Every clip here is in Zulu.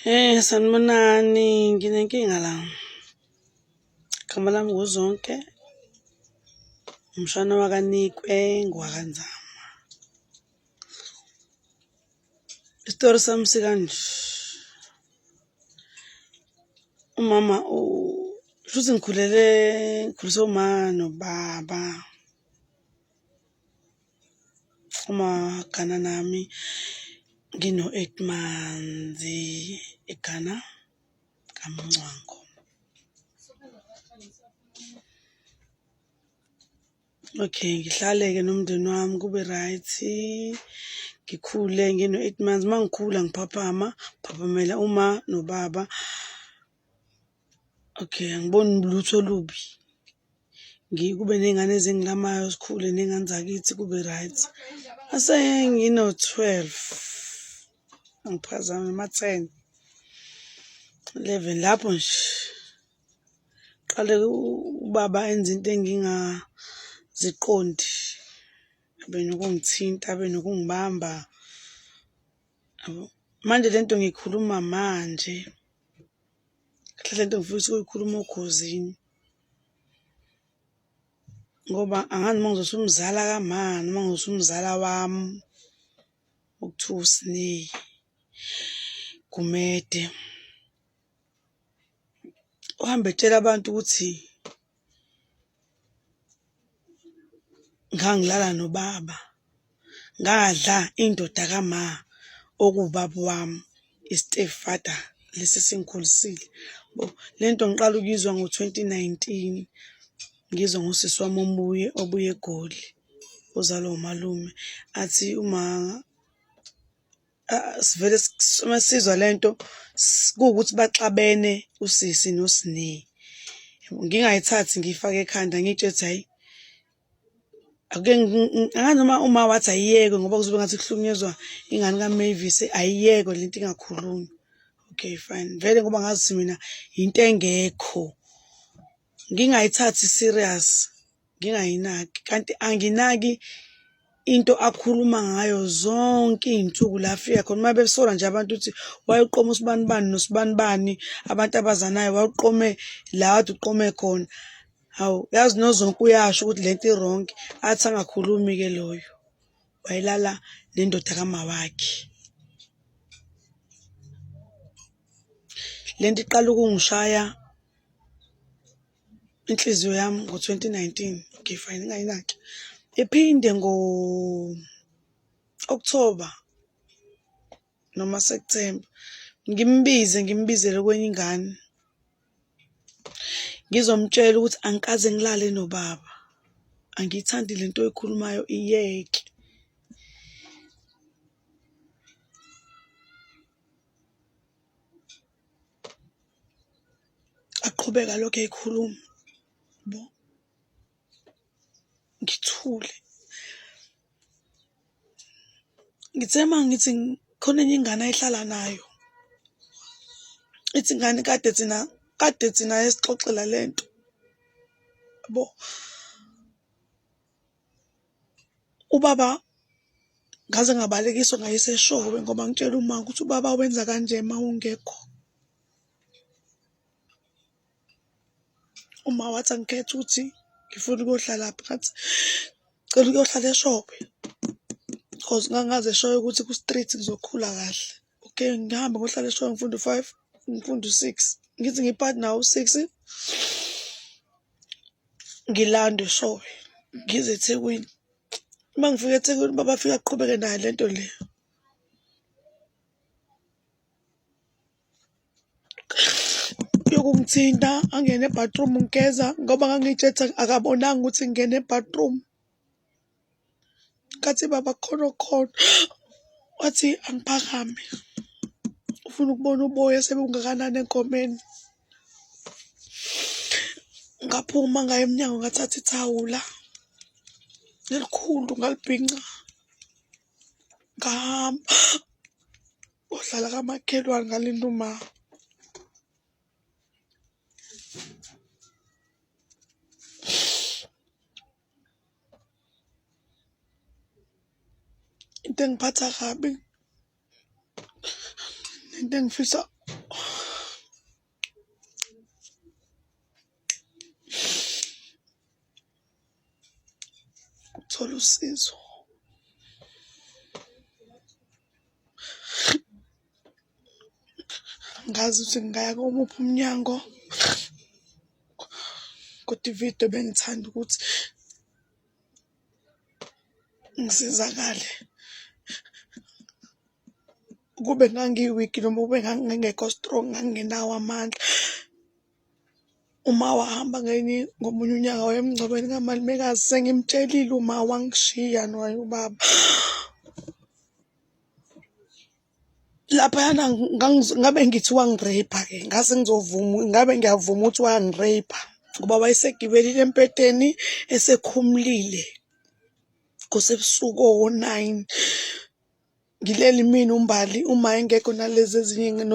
Hey, sanibonani nginenkinga la igama lami nguzonke umshana wakanikwe ngwakanzama isitori sami sikanje umama shuthi ngikhulele ngikhuliswe uma nobaba Uma Ghana nami ngino-eight months eGhana kaMncwango. Okay, ngihlale-ke nomndeni wami kube right. Ngikhule ngino-eight months. Uma ngikhula ngiphaphama, phaphumela uma nobaba. Okay, angiboni lutho olubi. Ngikube nezingane ezingilamayo sikhule nezingane zakithi kube right. Asengino 12. Angiphazami ma 10. 11 lapho nje. Qale ubaba enza into engingaziqondi. Abe nokungithinta, abe nokungibamba. Manje lento ngikhuluma manje. kahle lento ngifisa ukuyikhuluma ogozini ngoba angazi uma ngizothi umzala kamani uma ngizothi umzala wami ukuthiwa usineyi gumede uhambe etshela abantu ukuthi ngangilala nobaba ngadla indoda kama okuwubaba wami i-step father lesi esingikhulisile bo le nto ngiqala ukuyizwa ngo-twenty nineteen ngizwa ngosisi wami omuye obuye egoli ozalwa umalume athi uma Ah, sivele s- uma sizwa lento s- kuwukuthi baxabene usisi nosine ngingayithathi ngiyifake ekhanda ngiyitshela ukuthi hayi ake ngi- ngi- angazi noma uma wathi ayiyeke ngoba kuzobe ngathi kuhlukunyezwa ingane kaMavis ayiyeke lento ingakhulumi okay fine vele ngoba ngazi ukuthi mina yinto engekho ngingayithathi serious ngingayinaki kanti anginaki into akhuluma ngayo zonke iy'nsuku la afika khona uma besola nje abantu ukuthi wayeqoma usibani bani nosibani bani abantu abazanayo wawuqome la wade uqome khona hawu yazi nozonke uyasho ukuthi le nto ironke athi angakhulumi-ke loyo wayelala nendoda kamawakhe le nto iqala ukungishaya inhliziyo yami ngo-2019 okay fine ingayinaki iphinde ngo-October noma September ngimbize ngimbizele kwenye ingane ngizomtshela ukuthi angikaze ngilale nobaba angiyithandi le nto oyikhulumayo iyeke aqhubeka lokho ekhuluma bo ngithule ngithe uma ngithi khona enye ingane ayihlala nayo ithi ngani kade thina kade thina esixoxela lento bo ubaba ngaze ngabalekiswa ngayeseshowe ngoba ngitshela uma ukuthi ubaba wenza kanje uma ungekho uma wathi angikhethe ukuthi ngifuna ukuyohlala phi ngathi cela ukuyohlala eshope because ngangaze eshoyo ukuthi ku-street ngizokhula kahle okay ngihamba ngohlala eshoyo ngifunda u-five ngifunda u-six ngithi ngipart nawo u-six ngilande eshoyo ngize ethekwini uma ngifika ethekwini baba afike aqhubeke nayo le nto le yokungithinta angene ebhathroom ngigeza ngoba ngangitshetha akabonanga ukuthi ngingene ebhathroom ngathi baba khona okhona wathi angiphakame ufuna ukubona uboya sebungakanani enkomeni ngaphuma ngaye emnyango ngathatha ithawula elikhulu ngalibhinca ngahamba ohlala kamakhelwane ngalinda uma into engiphatha kabi nento engifisa ukuthola usizo ngazi ukuthi ngingaya komuphi umnyango kodwa ividiyo bengithanda ukuthi ngisizakale kube ngangiwiki noma kube ngangingekho strong ngangingenawo amandla uma wahamba ngenye ngomunye unyaka wayemngcwabeni kamalumekazi sengimtshelile uma wangishiya nowaye ubaba laphayana ngabe ngithi wangireyipha ke ngase ngizovuma ngabe ngiyavuma ukuthi wangireyipha ngoba wayesegibelile empeteni esekhumulile kusebusuku owo-nine ngileli mina umbali uma engekho nalezi ezinye ingane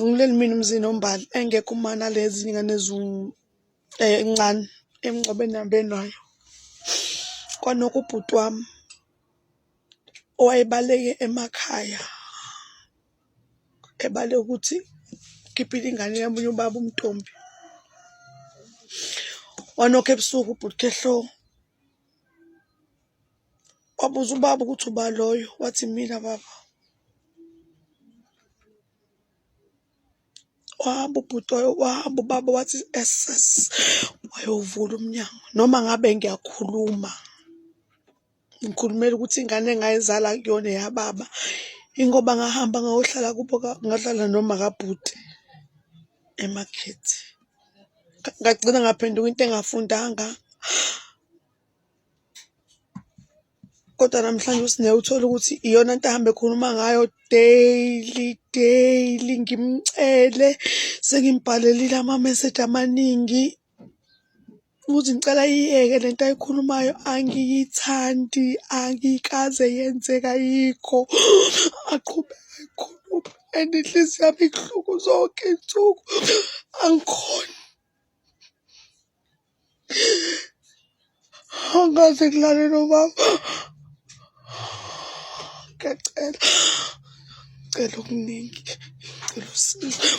ngileli mina umzini ombali engekho uma nalezi ingane ezincane eh, emngcwabeni abenayo kwanokho ubhuti wami owayebaleke emakhaya ebale ukuthi ukhiphile ingane yamunye ubaba umntombi wanokho ebusuku ubhuti khehlo wabuza ubaba ukuthi uba loyo wathi mina baba wahamba ubhuti wahamba ubaba wathi ss wayovula umnyango noma ngabe ngiyakhuluma ngikhulumela ukuthi ingane engayizala kuyona eyababa ingoba ngahamba ngayohlala kubo ngahlala noma kabhuti emakhethi ngagcina ngaphenduka into engafundanga kodwa namhlanje uSineya uthole ukuthi iyona nto ahambe ekhuluma ngayo daily daily ngimcele sengimbhalelile ama-message amaningi Ukuthi ngicela iyeke le nto ayikhulumayo angiyithandi angikaze yenzeka yikho aqhubeka ayikhulume and inhliziyo yami ibuhlungu zonke iy'nsuku angikhoni angaze kulale nomama ngiyacela ngicela okuningi ngicela usizo